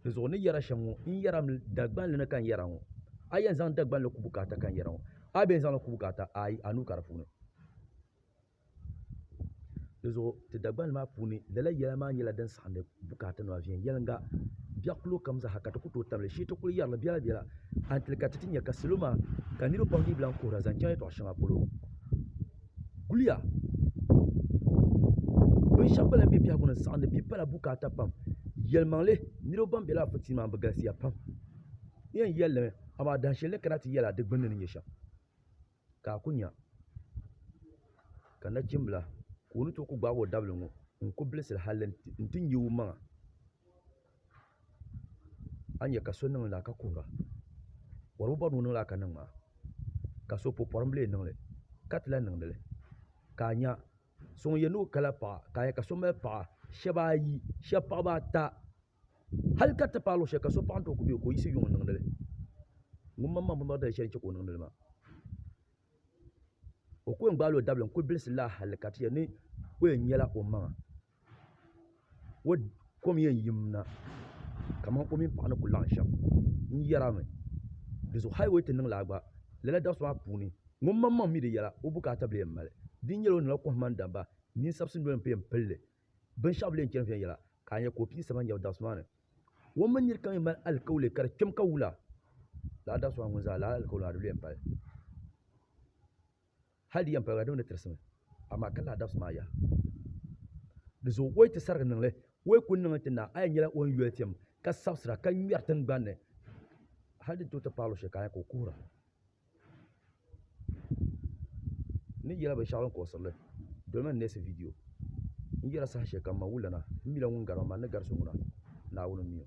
dinzuɣu ni yɛri shɛm ŋɔ n yɛra mi dagbanli ni ka n yɛra ŋɔ a yɛn zaŋ dagbanli kubu ka ata ka n yɛra ŋɔ a yi bɛn zaŋli kubu ka ata ayi a nuu ka di puuni dinzuɣu ti dagbanli maa puuni lala yɛla maa nyɛla din saɣandi bukaata nima viɛnyɛlinga biɛɣu kilo kam zaa ka ti ku tooi tabili shee ti kuli yɛrili biɛla biɛla a ni ti lihi ka ti ti nya ka salo maa ka niraba pam dii bi lahi kuhura zaŋ chaŋ yɛltɔɣa shɛŋa polo guliya bin shɛba gba lahi bɛ biɛhigu ni n saɣindi bia pala bukaata pam yɛlimaŋli niriba ban bɛ lala pɔtɔyin maa ni bi galisiya pam n yɛn yɛli li mi amaa dahin shɛli ni kana ti yɛli a di gbunni ni nyɛ shɛm ka a ku nya ka nachimbila ka o ni tooi ku gbaagi o dabili ŋɔ n ku bilisira hali n ti nya o maŋa. a ni yɛ ka so niŋli laa ka kuhira bɔr bi bɔri ni o niŋ laa ka niŋ maa ka so puhi pɔrim bili yɛn niŋli ka ti lan niŋdi li ka a nya so ŋun yɛn ni o kala paɣa ka a yɛ ka so mali paɣa shɛba ayi shɛba paɣaba ata hali ka ti paai luɣi shɛli ka so paɣa ni tooi ku bɛ o ka o yiɣisi yuŋ n niŋdi li ŋun maŋ maŋ binbaŋ dali shɛli n chɛ ka o niŋdi li maa o ku yɛn gbaala o dabili n kuli bilisi laa hali ka ti yɛli ni o yɛn nyɛla o maŋa kom yɛn yim na kamani o mini paɣa ni ku laɣam shɛm n yɛra mi dizuɣu hal bi ti niŋ laa gba lala dabisi maa puuni ŋun maŋmaŋ mii di yɛla o bukaata bili yɛn mali di ni nyɛla o niŋla kohamma ni damma ninsabisi noli n pun yɛn pilli binshaɣu bili yɛn chɛni viɛnyɛla ka a nyɛ ka o pii saba n yɛbi dabisi maa ni o mini niraba kam yɛn mali alikauli ka di kpɛm ka wula laa dabisi maa ŋun zaa lala alikauli maa di lu yɛn pali Hal di yɛn paliba di mi ni tirisimi, amaa ka lahi dabisi maa yaha. Di zuɣu o yi ti sarigi niŋ li, o yi kul niŋli ti naai, a yɛn nyɛla o ni yoli piɛm ka sabisira ka ŋmɛri tiŋgbani ni hal di ni tooi ti paai luɣishɛli ka a nya ka o kuhira ni yɛla binshɛɣu din kuɣisiri li. Dolimi n neesi vidiyo N yɛla sahashɛlikam ma wulana, m mila ŋun gari ma, man ni gari so ŋuna, Naawuni m-mi o.